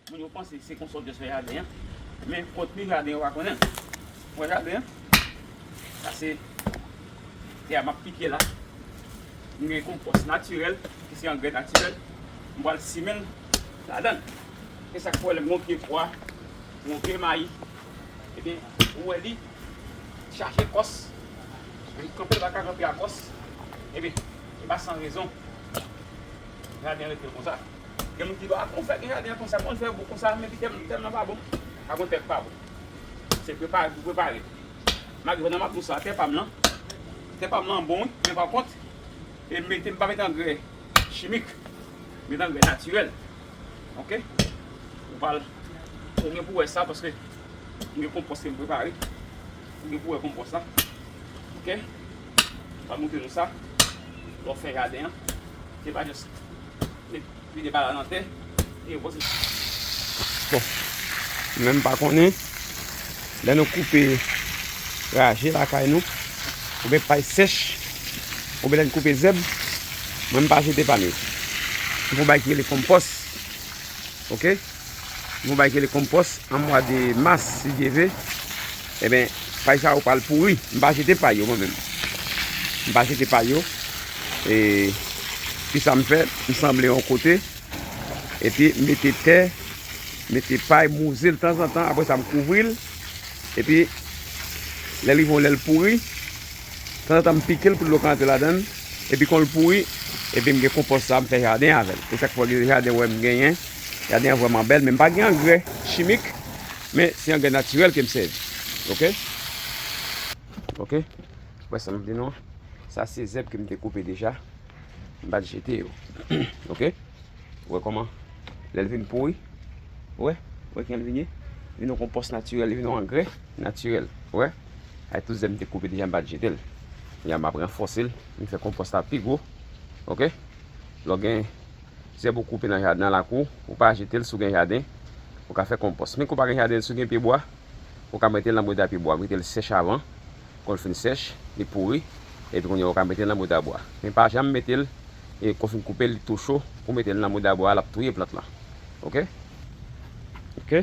Moun yo panse se konsa w jis fè jaden an, men kontni jaden yo pa konnen l. Wè jaden an? Sa se tè a m ap pike la. Mwen gen konpòs natirèl, ki se angrè natirèl, m pral simen l ladan l. Se sa k fè w wè lè m gen yon pye pwa, yon pye mayi, ebyen ou wè li. Chache kòs, menm kanpe l pa ka kanpe a kòs. Ebyen, se pa san rezon jaden an rete konsa. Gen moun ki di, a kòman w fè gen jaden an konsa, kòman w fè bon konsa, men ki tèm nan pa bon. Pa gen tè k pa bon. Se prepare pou prepare. Malgre pandan m ap di w sa, tè pa m lan, tè pa m lan bon wi, men pa kont, m mete, m pa mete angrè chimik. M mete angrè natirèl. Ok? Ou pa, ou gen pou wè sa paske. M gen konpòs ke m prepare. Ou gen pou wè konpòs la. Ok. M ap montre nou sa. Lè w fè jaden an. Se pa just met vide bal la nan tè. E konpòs la. Bon. Menm pa konnen. Lè nou koupe raje lakay nou. Ou byen pay sèch. Ou byen lè nou koupe zèb. Mwen m pa jete pa m yo. M pou bay ki rele konpòs. Ok. Yon bagay ki rele konpòs an mwa de mas si Dye ve. Eben, pay sa yo pral pouri. M pa jete pay yo mwen menm. M pa jete pay yo. E, ki sa m fè? M sanble yon kote. E pi, m mete tè, m mete pay, m wouze l tanzantan. Apre sa, m kouvri l. E pi, lè l rive yon lè l pouri, tanzantan m pike l pou dlo ka antre ladan l. E pi, kon l pouri, e pi m gen konpòs sa a, m fè jaden avè l. E chak fwa gen jaden wè m genyen. Jaden an vrèman bèl men m pa gen angrè chimik men se angrè natirèl ke m sèvi ok ok wè sa m ap di nou an sa se zèb ke m te koupe deja m pa t jete yo ok ou wè kòman lè l vin pouri ou wè ou wè kijan l vin ye li vin yon konpòs natirèl li vin yon angrè natirèl ou wè avèk tout zèb m te koupe deja m pa t jete l m ap ranfòse l m fè konpòs la pi gwo ok lè w gen Zèb ou koupe nan lakou, ou pa jete l si w gen jaden, ou ka fè konpòs. Men ke w pa gen jaden, si w gen pyebwa, ou ka mete l nan bouda pyebwa, mete l sèch avan, kon l fin sèch, li pouri, epi kounye a ou ka mete l nan bouda bwa. Men pa janm mete l e ke w fin koupe l, li tou cho, ou mete l nan bouda bwa a, l ap touye plant lan. Ok. Ok.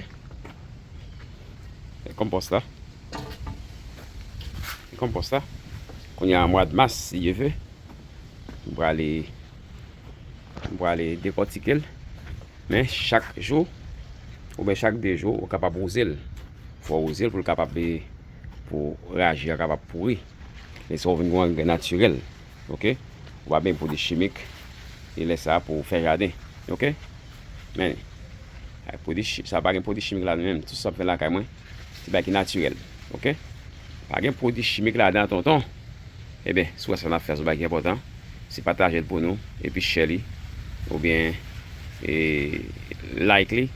E konpòs la. E konpòs la. Kounye a mwad mas, si Dye ve, m prale. M prale dekòtike l. Men chak jou ou byen chak 2 jou ou kapab wouze l. Fò wouze l pou l kapab e pou raje a kapab pouri. Lè sa ou vin gen angrè natirèl. Ok. Ou pa byen pwodui chimik. E lè sa pou fè jaden. Ok. Men. Sa pa gen pwodui chimik ladan l menm. Tout sa m fè lakay mwen. Se bagay ki natirèl ok. Pa gen pwodui chimik ladan tonton. Ebyen si w wè sa n ap fè a se yon bagay ki enpòtan, se pataje l pou nou epi share li oubyen like li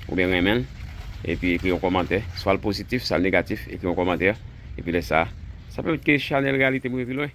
oubyen renmen l epi ekri yon kòmantè swa l pozitif swa l negatif ekri yon kòmantè epi lè sa sa pèmèt ke chanèl Reyalite m rive pi lwen.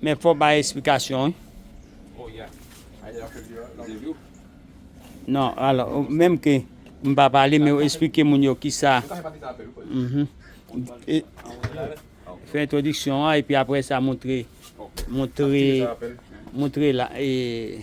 Men fò bay esplikasyon wi. Non, alò, menm ke m pa pale, men ou esplike moun yo ki sa. Mhm. E, fè introduksyon an, epi apre sa moutre, moutre, moutre la, e...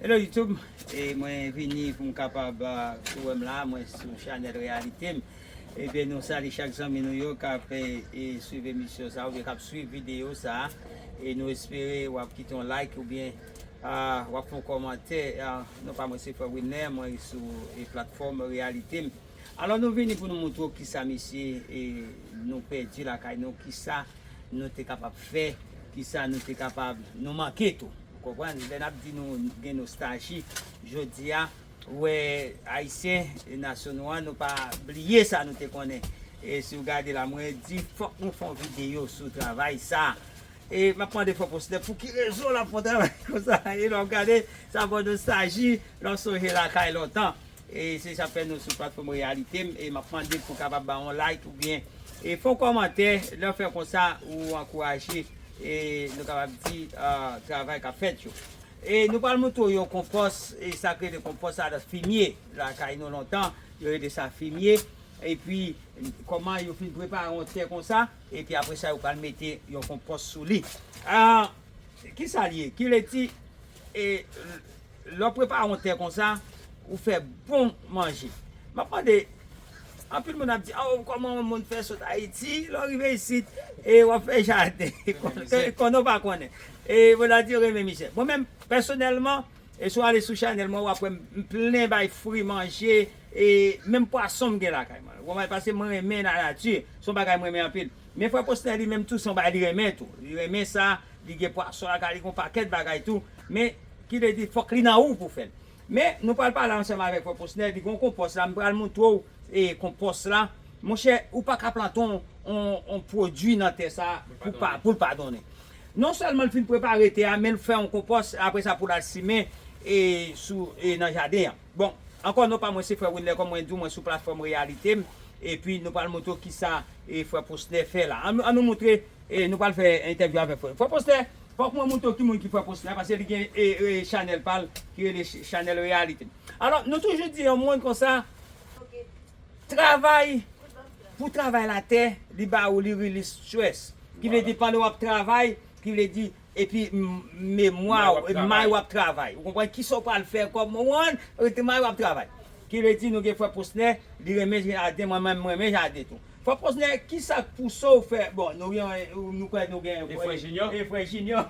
Hello YouTube, e mwen vini pou m kapab si w wè m la mwen sou chanèl reyalite m ebyen nou sali chak zanmi nou yo k ap swiv emisyon sa oubyen k ap swiv videyo sa e nou espere w ap kite yon like oubyen w ap fè yon kòmantè non pa mwen se frè Wilner mwen sou platfòm reyalite m. Alò nou vini pou nou moutre w kisa mesye nou pèdi lakay nou, kisa nou te kapab fè, kisa nou te kapab, nou manke tou. Ou konprann? Lè n ap di nou gen nostalji, jodi a, ou wè Ayisyen, nasyon nou an, nou pa bliye sa nou te konnen. E si w gade la, mwen di fòk nou fè yon videyo sou travay sa. E m ap mande fò Posnè pou ki rezon l ap fè yon travay konsa. E lè w gade, sa ba w nostalji, lè w sonje lakay lontan. E se sa fè nou sou platfòm Reyalitem e map mande pou kapab ba yon like ou byen e fon kòmantè lè fè konsa ou ankouraje e nou kapab di travay kap fèt yo. E nou pral moutre w yon konpòs e sak rele konpòs sa dat fimye lakay nou lontan yo rele sa fimye epi kòman yo fin prepare yon tè konsa epi apresa yo pral mete yon konpòs sou li a kisa li ye kileti e. Lè w prepare yon te konsa, ou fè bon manje. M ap mande, anpil moun ap di, a o kòman yon moun fè sot Ayiti, lè w rive isit, e w ap fè jaden, konnen w pa konnen. E moun ap di yo renmen mizè. Mwen menm, pèsonèlman, e si w ale sou chanèl mwen, w ap wè m plen bay fri manje, e menm pwason m gen lakay mwen. Ou konprann? Paske mwen renmen lanati, se yon bagay mwen renmen anpil. Men frè Posner li menm tou, se yon bagay li renmen tou. Li renmen sa, li gen pwason lakay li, li gen yon pakèt bagay tou. Men. Ki vle di fòk li nan ou pou fèl. Men nou pral pale ansanm avèk frè Posnè li gen yon konpòs la m pral montre w konpòs la monchè ou pa ka plante yon pwodwi nan tè sa pou l pa donnen non sèlman l fin prepare tè a men l fè yon konpòs aprè sa pou l al simen nan jaden an bon ankò non pa mwen se frè Wilner kòm mwen di w mwen sou platfòm reyalite m epi nou pral montre w kisa frè Posnè fè la an nou montre nou pral fè entèvyou avèk frè Posnè Fòk mwen montre w ki moun ki fè post la paske li gen chanèl pa l ki rele chanèl reyalite. Alò nou toujou di yon moun konsa travay pou travay la tè li ba ou li release stress ki vle di pandan w ap travay ki vle di epi memwa w may w ap travay ou konprann kisa w pral fè kòm ou an may w ap travay ki vle di nou gen fwè post nè li renmen jaden mwen menm m renmen jaden tou. Frè Posnè, ki sa k pouse w fè, bon, nou gen, nou kwè nou gen. E frè Jinyò? E frè Jinyò.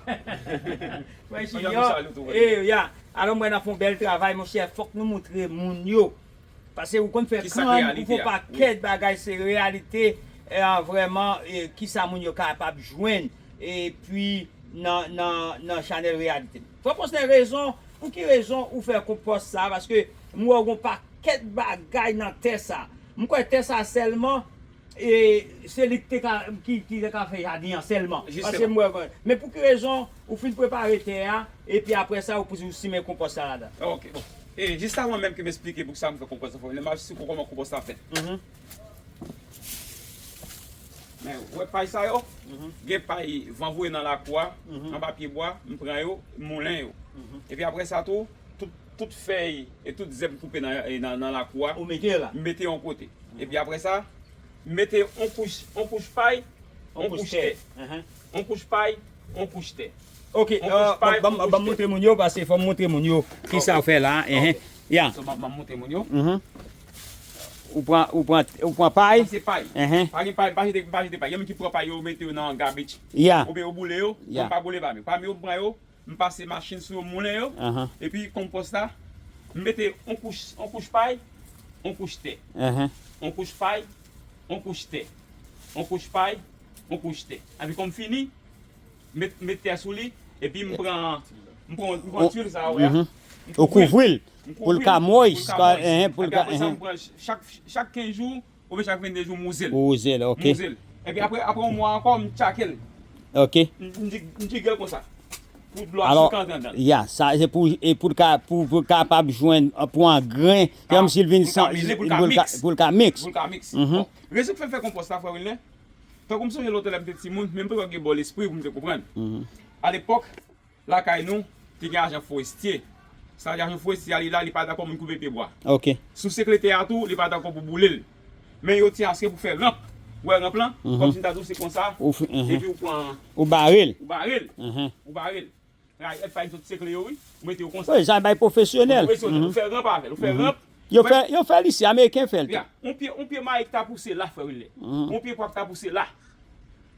Frè Jinyò, e, ya. Alò m wè n ap fè yon bèl travay, monchè, fòk nou montre moun yo. Pase ou konn fè kàn. Ki sa k reyalite a? Ou fè yon pakèt bagay, se reyalite a vrèman, ki sa moun yo kapab jwenn, epi nan, nan, nan chanèl reyalite m. Frè Fosnè rezon pou ki rezon ou fè kont pòs sa paske m wè w gon pakèt bagay nan tè sa m kwè tè sa sèlman e se li ki te ka fè jadin an sèlman paske m wè men pou ki rezon ou fin prepare tè a epi aprè sa ou pou simen konpòs sa ladan ok bon e jis avan menm ke m esplike pou ki sa m fè konpòs sa fòk m fè lè m ap esplike w kòman konpòs la fèt. Men, ou wè pay sa yo? Gen pay van voye nan lakou a, anba pyebwa, m pran yo, m moulen yo. Epi apre sa tou, tout fèy e tout zèb m koupe nan lakou a, m mete yon kote. Epi apre sa, m mete yon kouch pay, yon kouch tè. Yon kouch pay, yon kouch tè. Ok, banm moutre moun yo, paske fòm moutre moun yo kisa ou fè la a. So banm moutre moun yo. Ou pran ou pran ou pran pay. Sa se pay. Uh-huh. Pa gen pay, pa jete, pa jete pay. Gen moun ki pran pay yo mete yo nan garbage. Yeah. Oubyen yo boule yo. Yeah. Mwen pa boule pam yo. Pam yo m pran yo, m pase machin sou yo m moulen yo. Uh-huh. Epi konpòs la, m mete on kouch on kouch pay, on kouch tè. Uh-huh. On kouch pay, on kouch tè. On kouch pay, on kouch tè. Epi konm fini, m met m met tè sou li, epi m pran m pran m pran tuil sa a ou wè a. Uh-huh. Ou kouvri l. pou l ka moy ska enhen pou l ka enhen. Chak 15 jou oubyen chak 22 jou m uzel. Ou uze l ok. M uze l. Epi apre apre yon mwa ankò m tchake l. Ok. M di m jige l konsa. Pou dlo a sou ka antre andan l. Ya sa se pou e pou l ka pou pou l kapab jwenn pou angren se kòm si l vin san pou l ka mele pou l ka miks. Pou l ka miks. Pou l ka miks. Bon rezon k fè m fè konpòs la frè Wilner tankou m sonje lòt tan lè m te timoun men m te gen bò lespri pou m te konprann alepòk. Lakay nou te gen ajan forestye. Sa vle di ajan forestye a li la li pa dakò moun koupe pye bwa. Sou sekle tè a tou li pa dakò pou boule l. Men yo ti aske pou fè ranp. Ou wè ranp lan? Kòm si m ta di w se konsa epi ou pran. Ou bare l. Ou bare l. Ou bare l. Rayi èt pay sot sekle yo wi. Ou mete yo konsa. Wi jan bay pwofesyonèl. Pou pwofesyonèl. Ou fè ranp avè l. Ou fè ranp. Yo fè l isi. Ameriken fè l tou. Yon pye mayi ki ta pouse la frè Wilner. Yon pye pwa ki ta pouse la.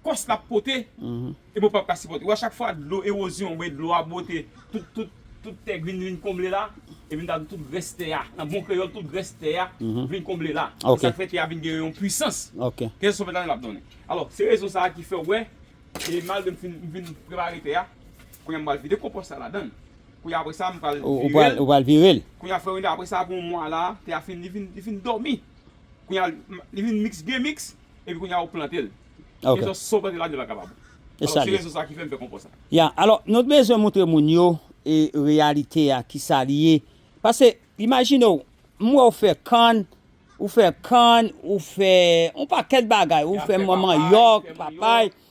kòs lap pote e pou pap ka sipòte wè chak fwa dlo ewozyon oubyen dlo a bwote tout tout tout tè vin vin konble la e vin ta di tout grès tè a nan bon kreyòl tout grès tè a vin konble la se sak fè tè a vin gen yon pwisans kèzè sòfèt la menm ap donnen alò se rezon sa ki fè ou wè e malgre m fin m fin prepare tè a kounya m pral vide konpòs la ladann kounya apre sa m pral vire ou pral vire l kounya frè mwen apre sa apre yon mwa la tè a fin li fin li fin dòmi kounya li vin miks byen miks epi kounya ou plante l. Ok. Epi sa w plante la li pa kapab. E Alò sa se li ye. rezon sa ki fè m fè konpò sa. Ya, alò nou t bezwen moutre moun yo e reyalite a kisa li ye. Pase imajine w m wè w fè kann, ou fè kann, ou fè on pakèt bagay, ou fè manmanyòk, papay.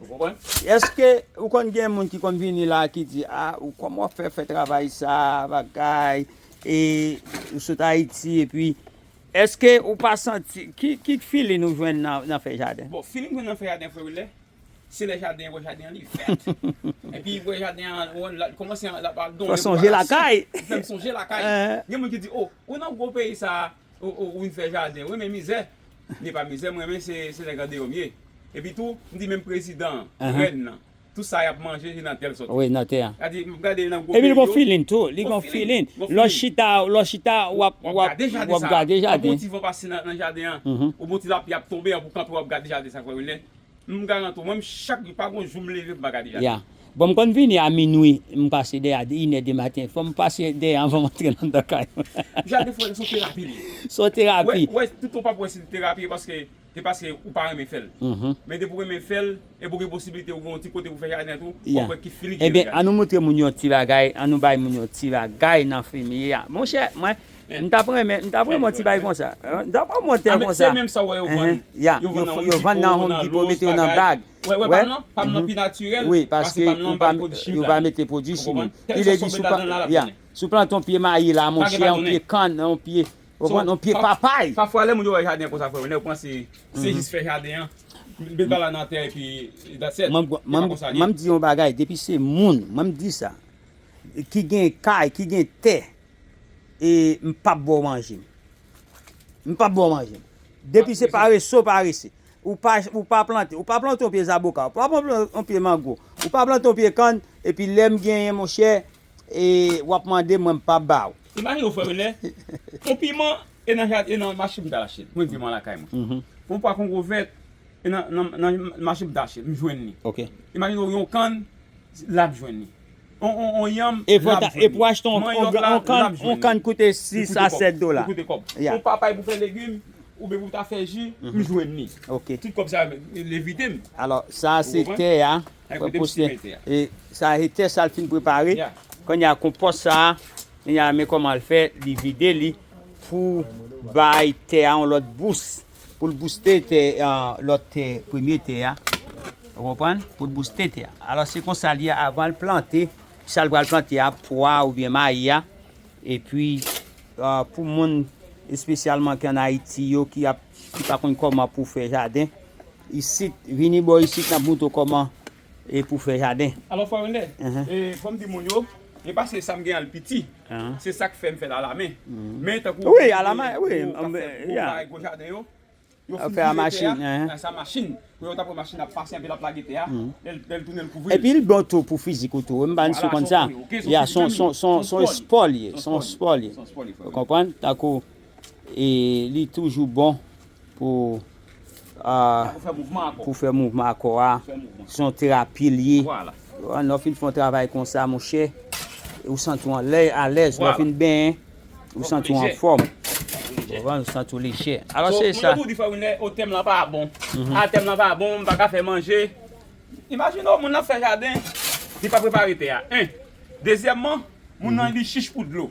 Ou konprann? Eske ou konn gen moun ki konn vini la ki di a ou kòman wap fè fè travay sa bagay e ou sot ayiti epi eske ou pa santi ki filin ou jwenn nan fè jaden? Bon filin m jwenn nan fè jaden frè Wilner se lè jaden an wè jaden an li vèt epi wè jaden an li kòmanse lap al donn li fèm sonje lakay gen moun ki di o ou nan gwo peyi sa. Oh oh ou vin fè jaden wi men mizè m ye pa mizè m renmen se se nèg andeyò m ye epi tou m di menm prezidan an rèn nan tout sa yap manje se nan tè l sòti wi nan tè a gade m gade nan gwo peyi yo epi l gon filin tou li gon filin lè w chita lè w chita wap wap gade jaden sa wap gade jaden an bon ti van pase nan jaden an ou bon ti lapli ap tonbe an pou kanpe wap gade jaden sa kwè m lè M garant ou mwen m chak jou pa gon jou m leve m pa gade Jacqueline. Yeah bon m konn vini a minwi m pase dèyè a 1 è de maten fò m pase dèyè anvan m antre nan nan kay mwen. Jacques de fwa son terapi li ye. Son terapi. Ou wè tout ou pap wè si l terapi e paske e paske ou pa renmen fè l. Men depi ou renmen fè l epi ou gen posibilite ou gen yon ti kote pou fè jaden tou wap wè ki fini ki ye nan jaden. Ebyen an nou moutre moun yon ti bagay an nou bay moun yon ti bagay nan femiye a monchè mwen M tap renmen m tap renmen yon ti bagay konsa m tap renmen yon kòmantè konsa yeah yo vann nan home depot mete yo nan bag wi paske yo pa mete pwodwi chimik ki vle di yeah si w plante yon pye mayi la monchè yon pye kann yon pye yon pye papay. Pafwa lè moun yo wè jaden an konsa frè yo panse se jis fè jaden an met bal la nan tè epi that's it m'en di yon bagay depi se moun m'en di sa ki gen kay ki gen tè E m pap baw manje m. M pap baw manje m. Depi se parese w parese. Ou pa ou pa plante. Ou pa plante yon pye zaboka. Ou pa plante yon pye mango. Ou pa plante yon pye kann. Epi lè m genyen monchè e w ap mande m mwen m pap ba w. Imajine w frè m lè yon piman e nan jaden e nan mache m t al achte l. Mwen di m al lakay mwen. Yon pwa kongo vèt e nan nan mache m t al achte l m jwenn li. Imajine w yon kann la m jwenn li. on on on yanm lap jwenn li. Manyòk la lap jwenn li. On kann koute 6 a 7 dola. Li koute kòb. On papay pou fè legim oubyen pou ta fè ji, m jwenn li. Tout kòb sa yo l evite m. Alò sa a se tè a. Ou kote m simen tè a. E sa a se tè sa l fin prepare. Kounye a konpòs sa a, men kòman l fè li vide li pou bay tè a on lòt bous. Pou l bouste tè lòt tè premye tè a. Ou konprann? Pou l bouste tè a. Alò se konsa l ye avan l plante sa l pral plante a, pwa oubyen mayi a. Epi pou moun espesyalman ki ann Ayiti yo ki pa konn kòman pou fè jaden isit, vini bò isit n ap montre w kòman E pou fè jaden. Alò Frè Wendè, e fò m di moun yo, e pa se sa m gen an l piti, se sa k fè m fè l alamen. Men tankou moun yo k ap fè gwo bagay, gwo jaden yo, yo fin vire tè a, sa machin, pou yo ta pran machin ap pase anpi l ap lage tè a, lè l tounen l kouvri l. Epi l bon tou pou fizik ou tou, m pa si w konn sa. Ya, s on espò l ye, s on espò l ye. Ou konprann? Tankou E li toujou bon pou pou fè mouvman ak kò a. Se yon terapi li ye. Lè w fin fè yon travay konsa monchè, ou santi w alèz. Lè w fin benyen, ou santi w anfòm. Ou santi w lejè. Mwen toujou di frè Wilner, o tèm lan pa bon. A tèm lan pa bon, m pa ka fè manje. Imajine w, moun nan ap fè jaden, li pa prepare tè a. 1. Dezyèmman, moun nan li chich pou dlo.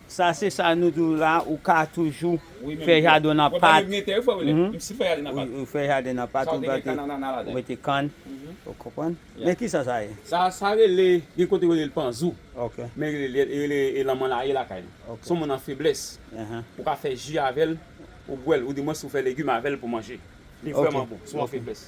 Sa se sa nou di w la ou ka toujou fè jaden w nan pat ou fè jaden nan pat ou plante ou mete kann ou konprann men kisa sa ye? Sa rele gen kote yo rele l panzou men yo rele e lanmanlaye lakay nou son moun an feblès ou ka fè ji avè l ou bwè l ou di mwens ou fè legim avè l pou manje li vrèman bon si w an feblès.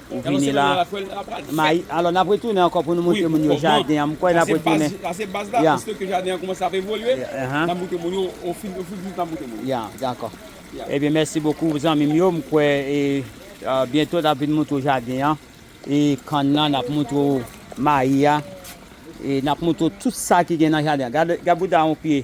Ou vini la. Mayi. Alò n ap retounen ankò pou nou montre moun yo jaden an. M kwè n ap retounen. Sa se baz la. Pwiske ke jaden an koumanse ap evolye, n ap montre moun yo ofil ofil toujou n ap montre moun yo. Ya, dakò. Ebyen mèsi bokou zanmi m yo. M kwè e byento n ap vin montre w jaden an e kann nan. N ap montre w mayi a e n ap montre w tout sa ki gen nan jaden an. Gad bouda yon pye.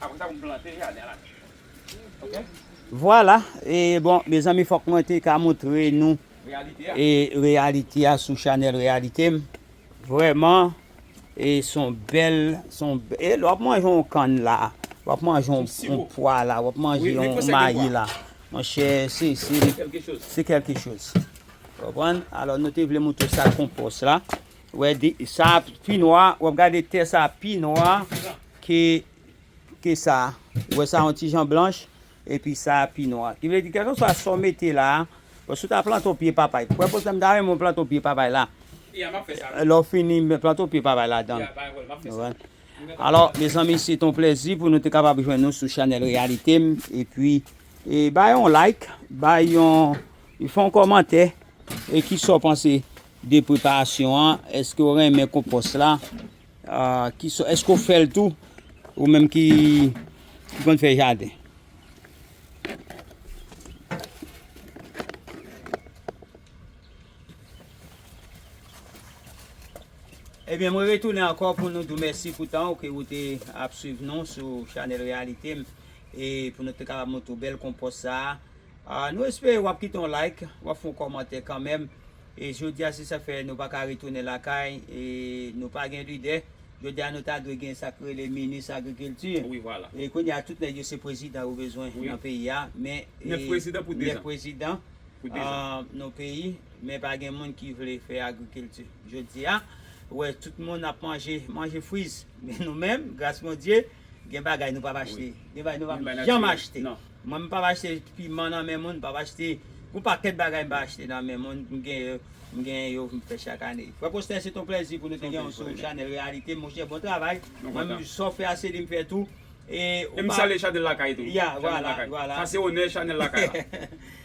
Apre sa pou m plante jaden la tou ok. Vwala e bon mezanmi fòk mwen te ka moutre nou e reyalite a sou chanèl reyalite m vrèman e son bèl son e lè wap manje yon kann la wap manje yon pwa la wap manje yon mayi la monchè se se se kèlke choz ou konprann alò nou te vle moutre sa konpòs la. Wè de sa pi nwa wap gade tè sa pi nwa ke ke sa wè sa yon ti jan blanch epi sa pi nwa ki vle di kèlke swa sa w mete la bon si w ta plante yon pye papay wè pou egzanp m ta renmen w plante yon pye papay la lè w fini plante yon pye papay ladan l ou wè alò mezanmi se te yon plezi pou nou te kapab jwenn nou sou chanèl reyalite m epi e bay yon like bay yon fè yon kòmantè e kisa w panse 2 preparasyon an eske ou renmen konpòs la eske ou fèl tou ou menm ki konn fè jaden. Ebyen mwen retounen ankò pou nou di w mèsi pou tan ou ke ou te ap swiv nou sou chanèl reyalite m e pou nou te kapab montre w bèl konpòs sa Nou espere wap kite yon like, wap fè yon kòmantè kanmenm. E jodi a se sak fè nou pa ka retounen lakay e nou pa gen lidè. Jodi a nou ta dwe gen sak rele minis agrikilti. E kounye a tout nèg yo se prezidan yo bezwen nan peyi a. 9 prezidan pou 2 zan. 9 prezidan nan peyi men pa gen moun ki vle fè agrikilti. Jodi a ou wè tout moun ap manje, manje friz. Men nou menm gras Bondye gen bagay nou pap achte. Gen bagay nou pap janm achte. Mwen m pap achte piman nan men moun, m pap achte Gon pakèt bagay m pa achte nan men moun, m gen yo m gen yo m fè chak ane. Frè Postè se ton plèzi pou nou te genw sou chanèl reyalite monchè bon travay mwen menm sa w fè a Celim fè tou e ou pa ya vwala vwala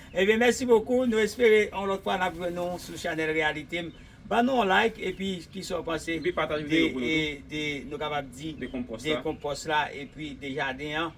ebyen mèsi bokou nou espere yon lòt fwa nap jwenn nou sou chanèl reyalite m ban nou yon like epi kisa w panse de nou kapab di de konpòs la epi de jaden an.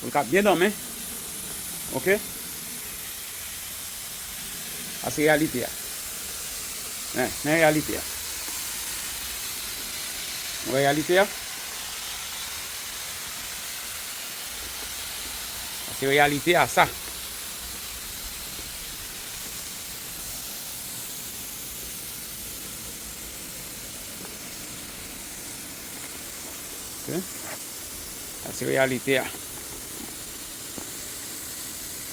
Pou l ka byen dòmi ok sa se reyalite a men reyalite a nou wè reyalite a sa se reyalite a sa ok. Sa se reyalite a.